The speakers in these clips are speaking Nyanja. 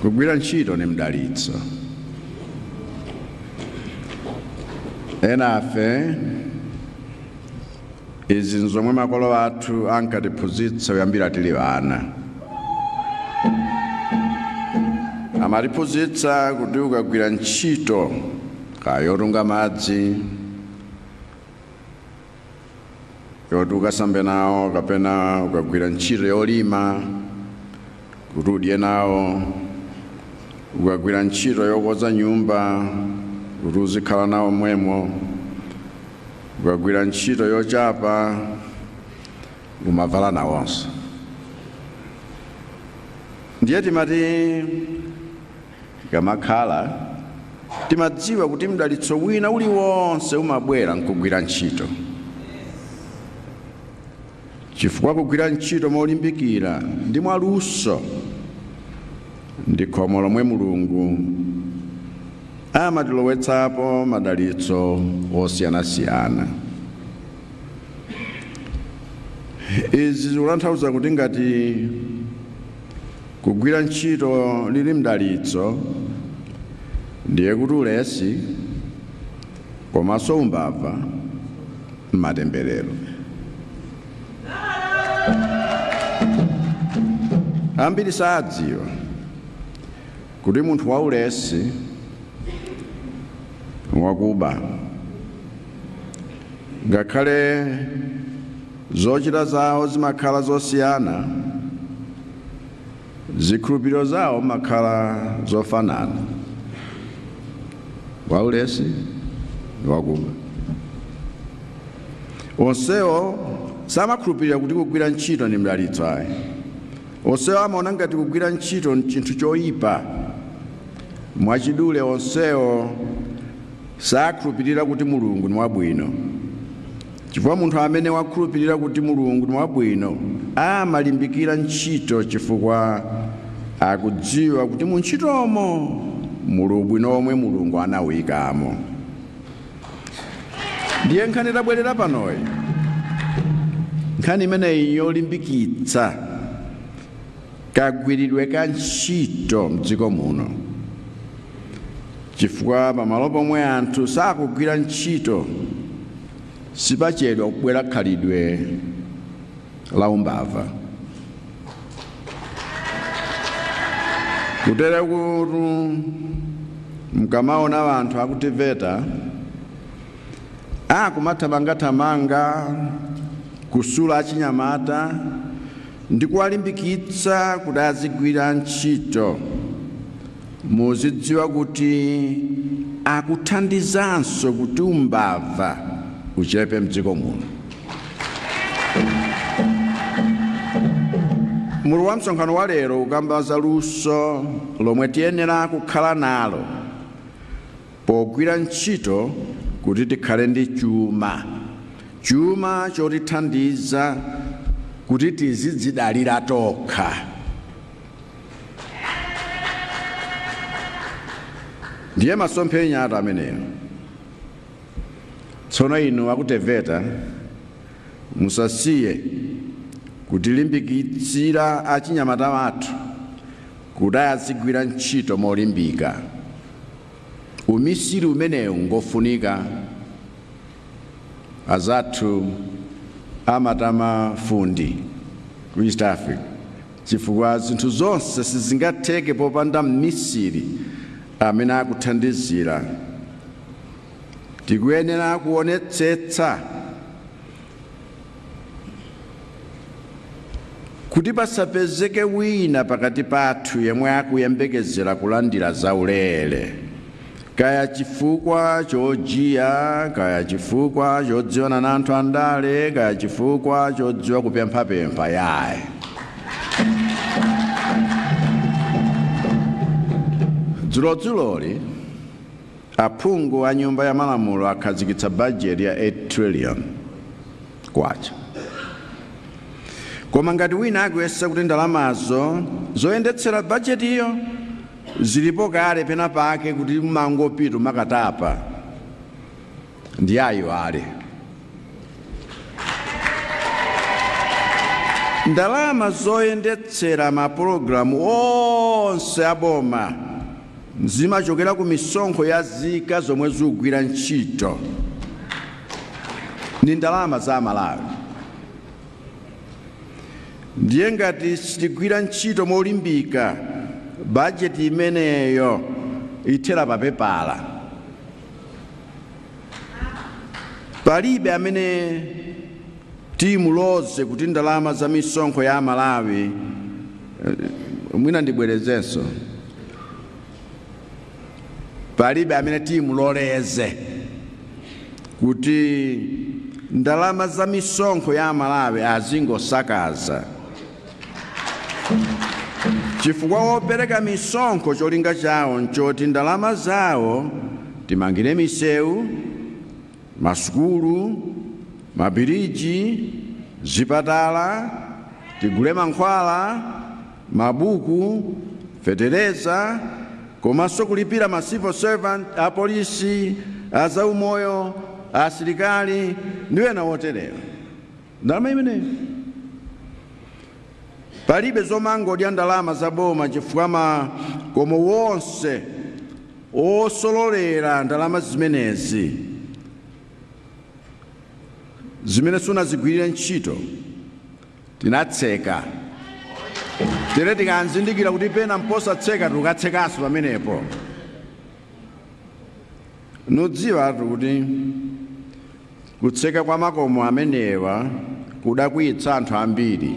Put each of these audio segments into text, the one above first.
kugwira ntchito ni mdalitso ena ife izi nzomwe makolo athu ankatiphunzitsa kuyambira tili ana amatiphunzitsa kuti ukagwira ntchito kaya yotunga madzi yoti ukasambe nawo kapena ukagwira ntchito yolima kuti udye nawo ukagwira ntchito yokonza nyumba kuti uzikhala nawo mwemo ukagwira ntchito yochapa umavala nawonso ndiye timati Tikamakhala, timadziwa kuti mdalitso wina uliwonse umabwera nkugwira ntchito, chifukwa kugwira ntchito molimbikira ndi mwaluso ndi khomo lomwe Mulungu amatilowetsapo madalitso osiyanasiyana. Izi zikutanthauza kuti ngati Kugwira ntchito lili mdalitso ndiye kuti ulesi komanso umbava mmatemberero. Ambiri sadziwa kuti munthu waulesi ngwakuba ngakhale. Zochita zawo zimakhala zosiyana, zikhulupiriro zawo zimakhala zofanana, waulesi ndi wakuba. Onsewo samakhulupirira kuti kugwira ntchito ndi mdalitso ayi. Onsewo amaona ngati kugwira ntchito n'chinthu choyipa. Mwachidule, onsewo sakhulupirira kuti Mulungu ni wabwino. Chifukwa munthu amene wakhulupirira kuti Mulungu ni wabwino amalimbikira ntchito chifukwa akudziwa kuti mu ntchitomo muli ubwino womwe Mulungu anauikamo. Ndiye nkhani tabwerera panoyi, nkhani imeneyi n'yolimbikitsa kagwiridwe ka ntchito m'dziko muno. Chifukwa pamalo pomwe anthu sakugwira ntchito, sipachedwa kubwera khalidwe la umbava kutere kuti mkamaona anthu aku TEVETA akumathamangathamanga kusula achinyamata ndi kuwalimbikitsa kuti azigwira ntchito, muzidziwa kuti akuthandizanso kuti umbava uchepe m'dziko muno. Mutu wa msonkhano wa lero ukamba za luso lomwe tiyenera kukhala nalo Pogwira ntchito kuti tikhale ndi chuma, chuma chotithandiza kuti tizidzidalira tokha, ndiye masomphenya athu amenewo. Tsono inu a ku TEVETA musasiye kutilimbikitsira achinyamata athu kuti azigwira ntchito molimbika. Umisiri umenewu ngofunika. Azathu amati mafundi ku East Africa chifukwa zinthu zonse sizingatheke popanda mmisiri amene akuthandizira. Tikuyenera kuonetsetsa Kuti pasapezeke wina pakati pathu yemwe akuyembekezera kulandira zaulere, kaya chifukwa chojiya, kaya chifukwa chodziwana na anthu andale, kaya chifukwa chodziwa kupemphapempha, yayi. Dzulodzuloli, Aphungu a nyumba ya malamulo akhazikitsa bajeti ya 8 trillion kwacha. Koma ngati wina akuyesa kuti ndalamazo zoyendetsera bajetiyo zilipo kale penapake kuti umangopita kumakatapa. ndiye ayiwale ndalama zoyendetsera mapulogalamu onse aboma zimachokera ku misonkho ya nzika zomwe zikugwira ntchito ndi ndalama za amalawi ndiye ngati sitigwira ntchito molimbika bajeti imeneyo ithera papepala palibe amene timuloze kuti ndalama za misonkho ya amalawi eh, mwina ndibwerezenso palibe amene timuloleze kuti ndalama za misonkho ya amalawi azingosakaza Chifukwa opereka misonkho cholinga chawo nchoti ndalama zawo timangire misewu, masukulu, mabiriji, zipatala, tigule mankhwala, mabuku, fetereza komanso kulipira ma civil servant, apolisi, azaumoyo, asilikali ndi ena otere. Ndalama zimenezi palibe zomangodya ndalama za boma chifukwa makomo wonse osololera ndalama zimenezi zimene sunazigwirire ntchito tinatseka tere tikanzindikira kuti pena mposatseka tikatsekanso pamenepo mudziwetu kuti Kutseka kwa makomo amenewa kudakwiyitsa anthu ambiri.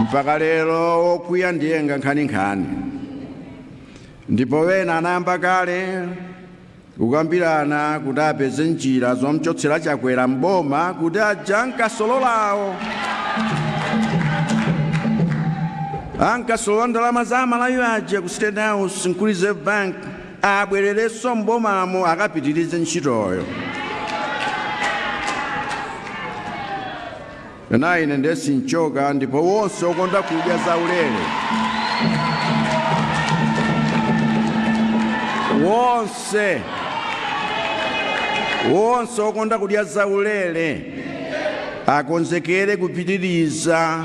Mpaka lero wokwiya ndiye nga nkhaninkhani. Ndipo wena anayamba kale kukambirana kuti apeze njira zomchotsera Chakwera m'boma kuti aja ankasololawo ankasolola ndalama za amalawi aja ku State House n'ku Reserve Bank abwererenso m'bomamo akapitirize ntchitoyo. Koma ine ndiye sinchoka ndipo wonse okonda kudya zaulere wonse wonse okonda kudya zaulere akonzekere kupitiriza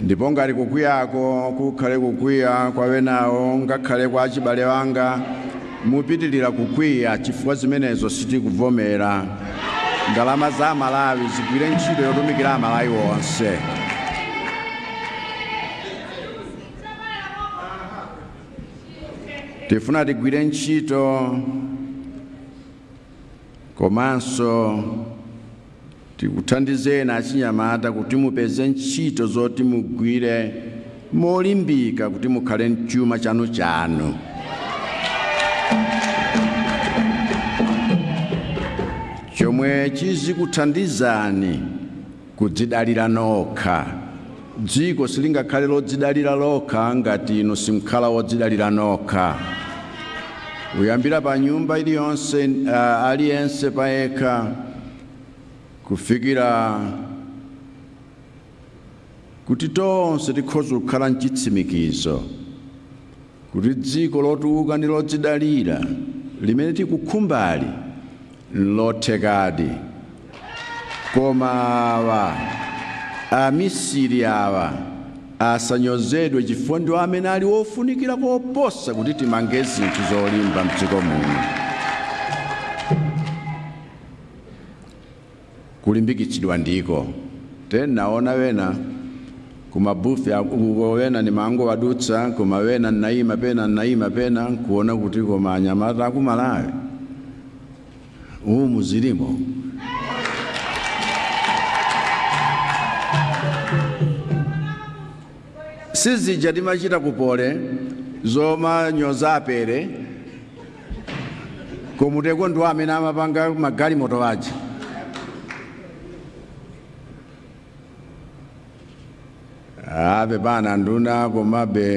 ndipo ngati kukwiyako kukhale kukwiya kwa wenawo ngakhale kwa achibale wanga mupitilira kukwiya chifukwa zimenezo sitikuvomera ndalama za amalawi zigwire ntchito yotumikira amalawi wonse tifuna tigwire ntchito komanso Tikuthandizeni achinyamata kuti mupeze ntchito zoti mugwire molimbika kuti mukhale ndi chuma chanuchanu. chomwe chizikuthandizani kudzidalira nokha. Dziko silingakhale lodzidalira lokha ngati inu simkhala wodzidalira nokha. Kuyambira pa nyumba iliyonse, uh, aliyense payekha kufikira kuti tonse tikhoza kukhala mchitsimikizo kuti dziko lotukuka ndi lodzidalira limene tikukhumbali nlothekadi koma awa amisiri awa asanyozedwe chifukwa ndiwo amene ali ofunikira koposa kuti timange zinthu zolimba mdziko muno kulimbikitsidwa ndiko. Te ndaona ena kumabufe uko ena nimangowadutsa koma ena nnaima pena nnaima pena nkuona kuti koma anyamata a ku Malawi umu zilimo sizija timachita ku Poly zomanyoza apere ku MUST-ko ndiwo amene amapanga magalimoto aja abwana nduna komabe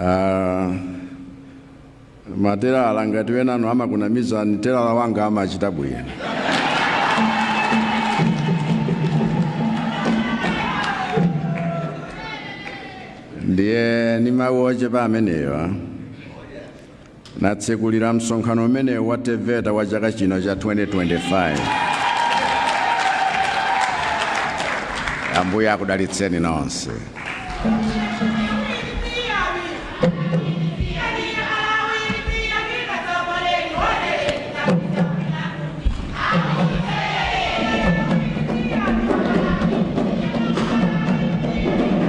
ah, matelala ngati enanu amakunamizani telala wanga amachita bwino ndiye ni mawu ochepa amenewa ndatsegulira msonkhano umenewu wa TEVETA wa chaka chino cha 2025 ambuye akudalitseni nonse